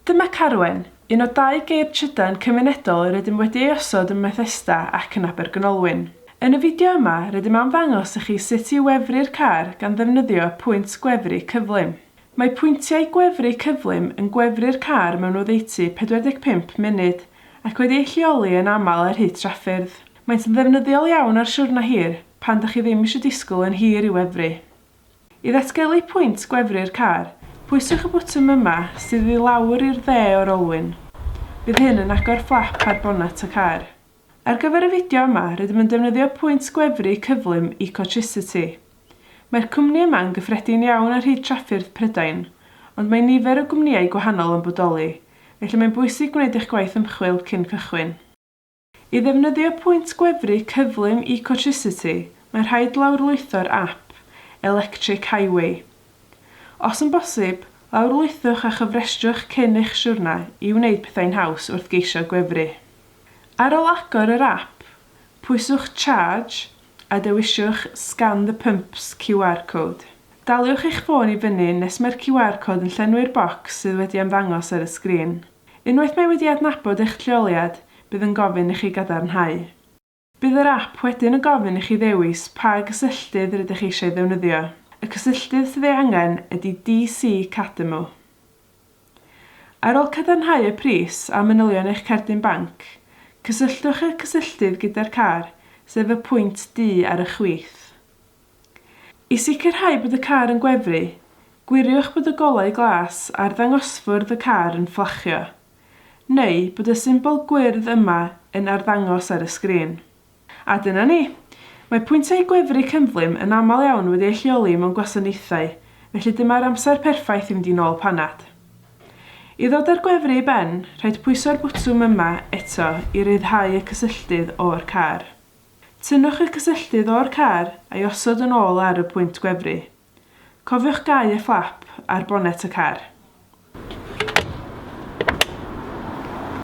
Dyma Carwen, un o dau geir trydan cymunedol yr ydym wedi ei osod ym Methesda ac yn Abergynolwyn. Yn y fideo yma, rydym am ddangos i chi sut i wefru'r car gan ddefnyddio pwynt gwefru cyflym. Mae pwyntiau gwefru cyflym yn gwefru'r car mewn oddeutu 45 munud, ac wedi eu lleoli yn aml ar hyd traffyrdd. Maent yn ddefnyddiol iawn ar siwrnai hir, pan dych chi ddim eisiau disgwyl yn hir i wefru. I ddatgelu pwynt gwefru'r car, pwyswch y botwm yma sydd i lawr i'r dde o'r olwyn. Bydd hyn yn agor fflap ar bonnet y car. Ar gyfer y fideo yma, rydym yn defnyddio pwynt gwefru cyflym Ecotricity. Mae'r cwmni yma yn gyffredin iawn ar hyd trafffyrdd Prydain, ond mae nifer o gwmnïau gwahanol yn bodoli, felly mae'n bwysig gwneud eich gwaith ymchwil cyn cychwyn. I ddefnyddio pwynt gwefru cyflym Ecotricity, mae'n rhaid lawrlwytho'r ap Electric Highway. Os yn bosib, lawrlwythwch a chofrestrwch cyn eich siwrna i wneud pethau'n haws wrth geisio gwefru. Ar ôl agor yr ap, pwyswch Charge a dewisiwch Scan the Pump's QR Code. Daliwch eich ffôn i fyny nes mae'r QR Code yn llenwi'r bocs sydd wedi ymddangos ar y sgrin. Unwaith mae wedi adnabod eich lleoliad, bydd yn gofyn i chi gadarnhau. Bydd yr ap wedyn yn gofyn i chi ddewis pa gysylltydd rydych eisiau ddefnyddio. Y cysylltydd sydd ei angen ydy DC Cademu. Ar ôl cadarnhau y pris a manylion eich cerdyn banc, cysylltwch y cysylltydd gyda'r car, sef y pwynt du ar y chwith. I sicrhau bod y car yn gwefru, gwiriwch bod y golau glas ar ddangosfwrdd y car yn fflachio, neu bod y symbol gwyrdd yma yn arddangos ar y sgrin. A dyna ni! Mae pwyntiau gwefru cyflym yn aml iawn wedi eu lleoli mewn gwasanaethau, felly dyma'r amser perffaith i fynd i nôl panad. I ddod â'r gwefru i ben, rhaid pwyso'r bwtwm yma eto i ryddhau y cysylltydd o'r car. Tynnwch y cysylltydd o'r car a'i osod yn ôl ar y pwynt gwefru. Cofiwch gau y fflap ar bonet y car.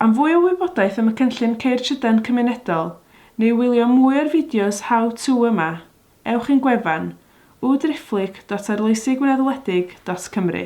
Am fwy o wybodaeth am y cynllun Ceir Trydan Cymunedol neu wylio mwy o'r fideos How To yma, ewch i'n gwefan, www.arloesigwynedwledig.cymru.